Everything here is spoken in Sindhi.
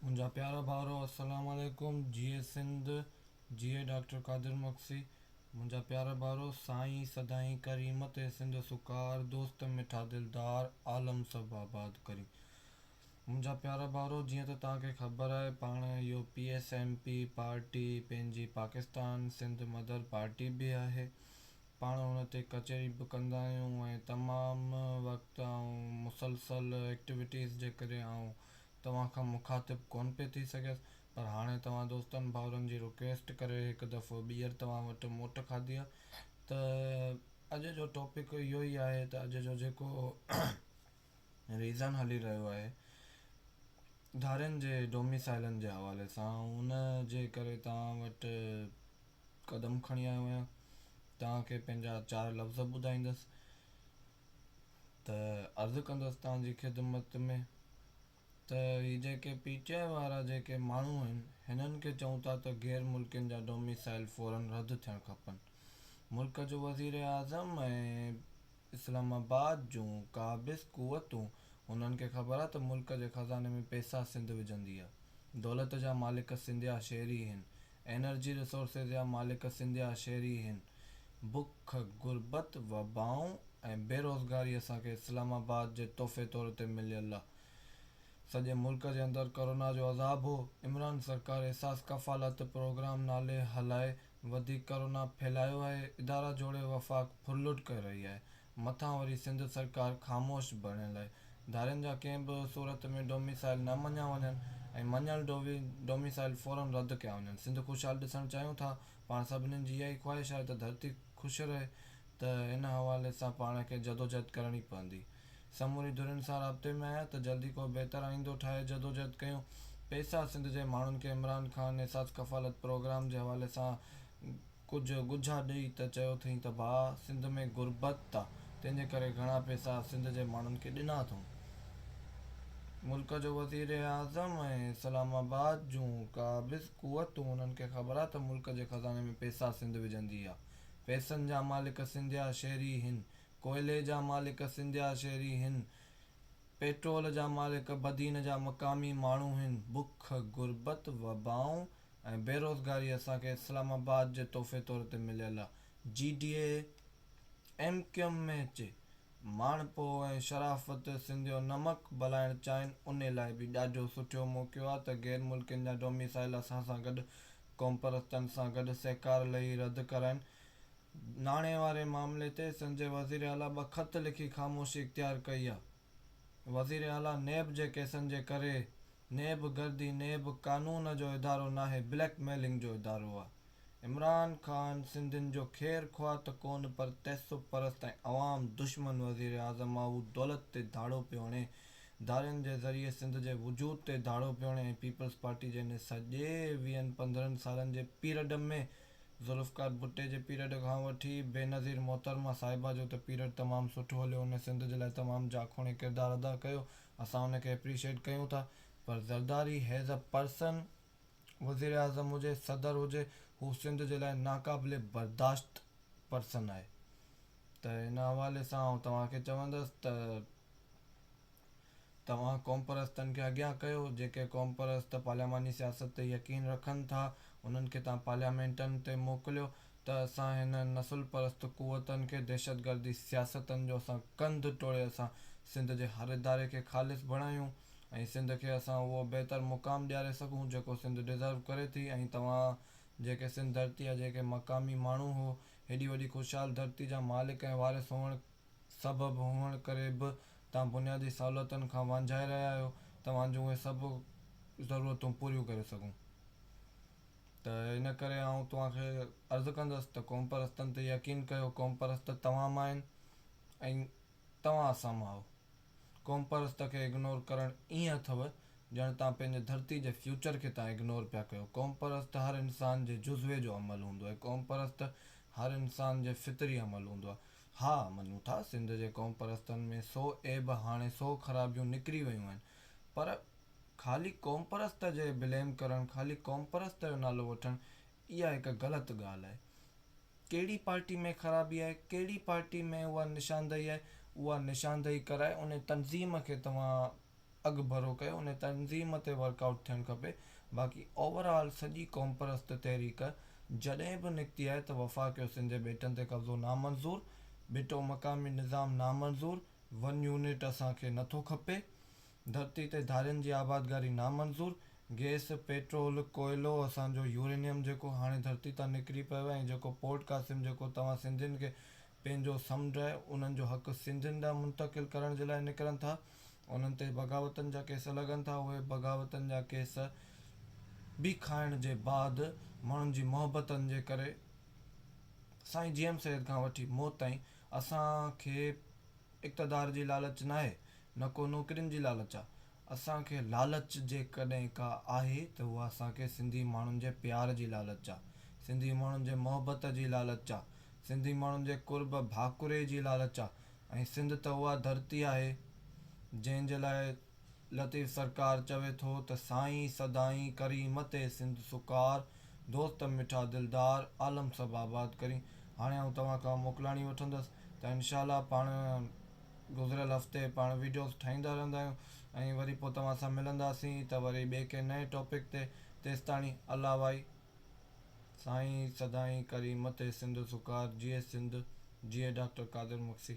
منهنجا پيارا ڀائرو السلام عليڪم جيئي سنڌ جيئي ڊاڪٽر قادر مگسي منهنجا پيارا ڀائرو سائين سدائين ڪريم تي سنڌ سوڪار دوست مٺا دلدار عالم سڀ آباد ڪري منهنجا پيارا ڀائرو جيئن ته توهان کي خبر آهي پاڻ U P S M P party پنهنجي پاڪستان سنڌ مدر پارٽي به آهي پاڻ ان تي ڪچهري به ڪندا آهيون ۽ تمام وقت آئون مسلسل ايڪٽويٽيز جي ڪري آئون توهان کان مخاطب ڪونه پئي ٿي سگهيس پر هاڻي توهان دوستن ڀائرن جي رڪويسٽ ڪري هڪ دفعو ٻيهر توهان وٽ موٽ کاڌي آهي ته اڄ جو ٽاپڪ اهو ئي آهي ته اڄ جو جيڪو ريزن هلي رهيو آهي ڌارين جي ڊوميسائلن جي حوالي سان ان جي ڪري توهان وٽ قدم کڻي آيو آهيان توهان کي پنهنجا چار لفظ ٻڌائيندس ته عرض ڪندس توهان جي خدمت ۾ ته هي جيڪي پي ٽي آء وارا جيڪي ماڻهو آهن هنن کي چئون ٿا ته غير ملڪين جا ڊوميسائل فورن رد ٿيڻ کپن ملڪ جو وزير اعظم ۽ اسلام آباد جون قابض قوتون هنن کي خبر آهي ته ملڪ جي خزاني ۾ پئسا سنڌ وجهندي آهي دولت جا مالڪ سنڌيا شهري هن انرجي ريسورسز جا مالڪ سنڌ جا شهري هين. بک، غربت، وبائون ۽ بيروزگاري اسان کي اسلام آباد جي تحفي طور تي مليل آ. سڄي ملڪ جي اندر ڪورونا جو عذاب هو. عمران سرڪار احساس ڪفالت پروگرام نالي هلائي وڌيڪ ڪورونا ڦهلايو آهي. ادارا جوڙي وفاق ڦرلٽ ڪري رهي آهي. مٿان وري سنڌ سرڪار خاموش بڻيل آهي. ڌارين جا ڪنهن به صورت ۾ ڊوميسائيل نه مڃيا وڃن ۽ مڃيل ڊوميسائيل فورن رد ڪيا وڃن. سنڌ خوشحال ڏسڻ چاهيون ٿا. پاڻ سڀني جي اها ئي خواهش آهي ته ڌرتي خوش رهي ته ان حوالي سان پاڻ کي جدوجهد ڪرڻي پوندي. سموري ڌرين سان رابطي ۾ آهيان ته جلدي ڪو بهتر آئيندو ٺاهي جدوجهد ڪيون. پئسا سنڌ جي ماڻهن کي عمران خان احساس ڪفالت پروگرام جي حوالي سان ڪجهه ڳجها ڏئي ته چيو اٿئين ته ڀاء سنڌ ۾ غربت آ تنهن جي ڪري گهڻا پئسا سنڌ جي ماڻهن کي ڏنا اٿئون. ملڪ جو وزير اعظم ۽ اسلام آباد جون قابض قوتون انهن کي خبر آ ته ملڪ جي خزاني ۾ پئسا سنڌ وجهندي آ. پئسن جا مالڪ سنڌيا شهري هين. ڪوئلي جا مالڪ سنڌيا شهري هين. پيٽرول جا مالڪ بدين جا مقامي ماڻهو هين. بک، غربت، وبائون ۽ بيروزگاري اسان کي اسلام آباد جي تحفي طور تي مليل آ G D A M Q M ۾ اچي ماڻهپو ۽ شرافت سنڌ جو نمڪ بلائڻ چاهين ان لاء به ڏاڍو سٺيو موقعو آ ته غير ملڪين جا ڊوميسائيل اسان سان گڏ قومپرستن سان گڏ سهڪار لهي رد ڪرائين ناڻي واري معاملي تي سنڌ جي وزيراعليٰ ٻه خط لکي خاموشي اختيار ڪئي آ. وزير اعليٰ نيب جي ڪيسن جي ڪري نيب گردي نيب قانون جو ادارو ناهي بليڪ ميلنگ جو ادارو آ عمران خان سنڌين جو خير خواهه ته ڪون پر تعصب پرست ۽ عوام دشمن وزير اعظم آ هو دولت تي ڌاڙو پيو هڻي ڌارين جي ذريعي سنڌ جي وجود تي ڌاڙو پيو هڻي ۽ پيپلز پارٽي جنهن سڄي ويهن پندرهن سالن جي پيرڊ ۾ ذوالفقار ڀٽي جي پيريڊ کان وٺي بينظير محترمه صاحبه جو ته پيريڊ تمام سٺو هليو ان سنڌ جي لاء تمام جاکوڻي ڪردار ادا ڪيو اسان ان کي اپريشيئيٽ ڪيون ٿا پر زرداري هيز اي پرسن وزيراعظم هجي صدر هجي هو سنڌ جي لاء ناقابل برداشت پرسن آهي ته ان حوالي سان آئون توهان کي چوندس ته توهان قومپرستن کي اڳيان ڪيو، جيڪي قومپرست پارلياماني سياست تي يقين رکن ٿا، انهن کي توهان پارليامينٽن تي موڪليو ته اسان هنن نسل پرست قوتن کي دهشتگردي سياستن جو اسان ڪنڌ ٽوڙي اسان سنڌ جي هر اداري کي خالص بڻايون ۽ سنڌ کي اسان اهو بهتر مقام ڏياري سگهون جيڪو سنڌ ڊزرو ڪري ٿي ۽ توهان جيڪي سنڌ ڌرتي جا جيڪي مقامي ماڻهو هو هيڏي وڏي خوشحال ڌرتي جا مالڪ ۽ وارث هئڻ سبب هئڻ ڪري به توهان بنيادي سهولتن کان وانجهائي رهيا آهيو توهان جون اهي سڀ ضرورتون پوريون ڪري سگهون ته ان ڪري آئون توهان کي عرض ڪندس ته قومپرستن تي يقين ڪيو قومپرست توهان مان آهن ۽ توهان اسان مان آهو قومپرست کي اگنور ڪرڻ ائين اٿو ڄڻ توهان پنهنجي ڌرتي جي فيوچر کي توهان اگنور پيا ڪيو قومپرست هر انسان جي جزوي جو عمل هوندو آهي قومپرست هر انسان جي فطري عمل هوندو آهي ها مڃون ٿا سنڌ جي قوم پرستن ۾ سو عيب هاڻي سو خرابيون نڪري ويون آهن پر خالي قوم پرست جي بليم ڪرڻ خالي قوم پرست جو نالو وٺڻ اها هڪ غلط ڳالهه آهي ڪهڙي پارٽي ۾ خرابي آهي ڪهڙي پارٽي ۾ اها نشاندهي آهي اها نشاندهي ڪرائي ان تنظيم کي توهان اڳڀرو ڪيو ان تنظيم تي ورڪ آئوٽ ٿيڻ کپي باقي اوور آل سڄي قومپرست تحريڪ جڏهن به نڪتي آهي ته وفاقيو سنڌي ٻيٽن تي قبضو نامنظور ٻيٽو مقامي نظام نامنظور ون يونٽ اسان کي نٿو کپي ڌرتي تي ڌارين جي آبادگاري نامنظور گئس پيٽرول ڪوئلو اسان جو يورينيم جيڪو هاڻي ڌرتي تان نڪري پيو ۽ جيڪو پورٽ قاسم جيڪو توهان سنڌين کي پنهنجو سمنڊ آهي، انهن جو حق سنڌين ڏانهن منتقل ڪرڻ جي لاء نڪرن ٿا، انهن تي بغاوتن جا ڪيس لڳن ٿا، اهي بغاوتن جا ڪيس به کائڻ جي بعد ماڻهن جي محبتن جي ڪري سائين جي ايم سيد کان وٺي موت تائين اسان کي اقتدار جي لالچ ناهي نه ڪو نوڪرين جي لالچ آهي، اسان کي لالچ جيڪڏهن ڪا آهي ته اها اسان کي سنڌي ماڻهن جي پيار جي لالچ آ، سنڌي ماڻهن جي محبت جي لالچ آ، سنڌي ماڻهن جي قرب ڀاڪري جي لالچ آ ۽ سنڌ ته اها ڌرتي آهي جنهن جي لاء لطيف سرڪار چوي ٿو ته سائين سدائين ڪريم تي سنڌ سڪار دوست مٺا دلدار عالم سڀ آباد ڪرين هاڻي آئون توهان کان موڪلاڻي وٺندس ته انشاء الله پاڻ گذريل هفتي پاڻ ويڊيوز ٺاهيندا رهندا آهيون ۽ وري پوء توهان سان ملنداسين ته وري ٻئي ڪنهن نئين ٽاپڪ تي تيستاڻي الله وائي سائين سدائين ڪري مٿي سنڌ سوڪار جيئي سنڌ جيئي ڊاڪٽر قادر مگسي.